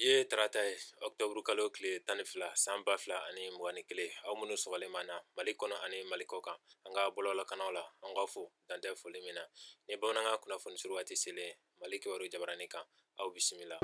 ye tarata ye ɔktɔburu kalo tile tan ni fila san ba fila ani mugan ni kelen aw minnu sɔgɔlen b'an na mali kɔnɔ ani mali kɔ kan an ka bɔlɔlɔ kanaw la an k'aw fo dan tɛ foli min na ni bamanankan kunnafoni surun waati selen mali kibaru jabaranin kan aw bisimila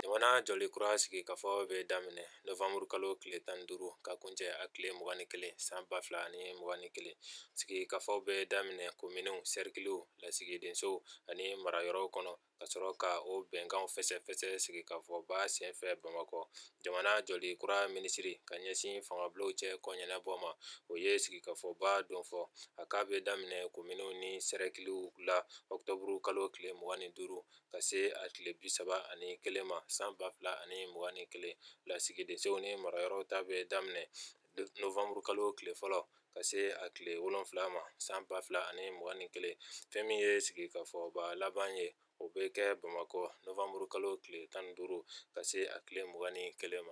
jamana jɔli kura sigikafɔw bɛ daminɛ novanburu kalo tile tan ni duuru ka kuncɛ a tile mugan ni kelen san ba fila ani mugan ni kelen sigikafɔw bɛ daminɛ kominiw sɛrikiliw lasigidensow ani marayɔrɔw kɔnɔ ka sɔrɔ ka o bɛnkanw fɛsɛfɛsɛ sigikafɔba senfɛ bamakɔ jamana jɔli kura minisiri ka ɲɛsin fangabulonw cɛ koɲɛnabɔ ma o ye sigikafɔba don fɔ a k'a bɛ daminɛ kominiw ni sɛrikiliw la ɔktɔburu kalo tile mugan ni duuru ka se a tile bi saba ani kelen ma san ba fila ani mugan ni kelen lasigidensow ni marayɔrɔw ta bɛ daminɛ novanburu kalo tile fɔlɔ ka se a tile wolonfila ma san ba fila ani mugan ni kelen fɛn min ye sigikafɔba laban ye o bɛ kɛ bamakɔ novanburu kalo tile tan ni duuru ka se a tile mugan ni kelen ma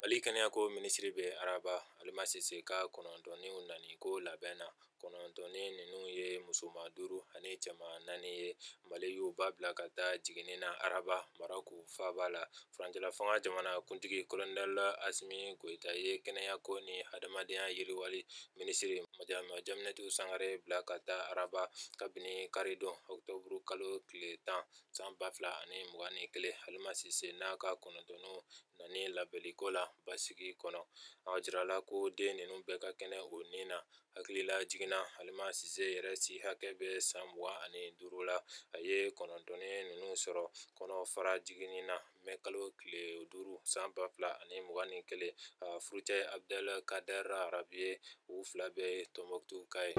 mali kɛnɛyako minisiri bɛ araba halima sise ka kɔnɔntɔnninw nani ko labɛn na kɔnɔntɔnnin ninnu ye musoman duuru ani cɛman naani ye mali y'u ba bila ka taa jiginni na araba maroku faaba la furancɛla fanga jamana kuntigi kolonɛli asimi goyita ye kɛnɛyako ni hadamadenya yiriwali minisiri madamu jaminatu sangare bila ka taa araba kabini karidon ɔktɔburu kalo tile tan san ba fila ani mugan ni kelen halima sise n'a ka kɔnɔntɔnninw nani labɛnliko la basigi kɔnɔ a jirala ko den ninnu bɛɛ ka kɛnɛ u ni na hakililajigin na halima sise yɛrɛ si hakɛ bɛ san mugan ani duuru la a ye kɔnɔntɔnnin ninnu sɔrɔ kɔnɔfara jiginni na mɛ kalo tile duuru san ba fila ani mugan ni kelen a furucɛ abdel kader arabi ye u fila bɛɛ ye tɔnbɔkutukaw ye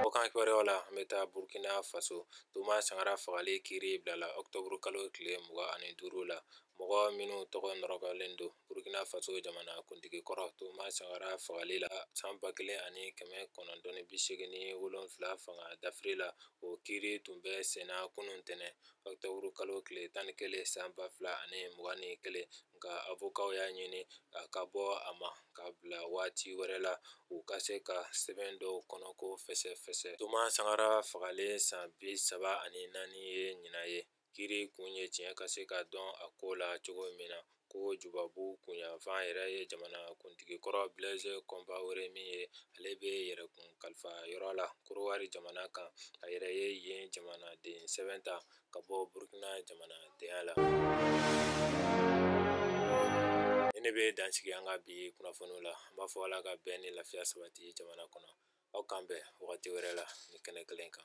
kɔkan kibaruyaw la an bɛ taa burkina faso toma sankara fagali kiri bilala octobre kalo tile mugan ani duuru la Mɔgɔ minnu tɔgɔ nɔrɔkɔlen don Burkina Faso jamana kuntigi kɔrɔ Toma Sankara fagali la san 1987 fanga dafiri la, o kiri tun bɛ senna kunun ntɛnɛn octobre kalo tile 11 san 2021, nka avokaw y'a ɲini a ka bɔ a ma ka bila waati wɛrɛ la, u ka se ka sɛbɛn dɔw kɔnɔko fɛsɛfɛsɛ. Toma Sankara fagalen san 34 ye ɲinan ye. kiri kun ye tiɲɛ ka se ka dɔn a ko la cogo min na ko jubabu kunɲafan yɛrɛ ye jamana kuntigi kɔrɔ bileze kɔnpaore min ye ale bɛ yɛrɛkun kalifa yɔrɔ la korowari jamana kan a yɛrɛ ye yen jamanaden sɛbɛn ta ka bɔ burukina jamanadenya la ni ne bɛ dansigi an ka bi kunnafoniw la an b'a fɔ ala ka bɛn ni lafiya sabati jamana kɔnɔ aw k'an bɛn wagati wɛrɛ la nin kɛnɛ kelen kan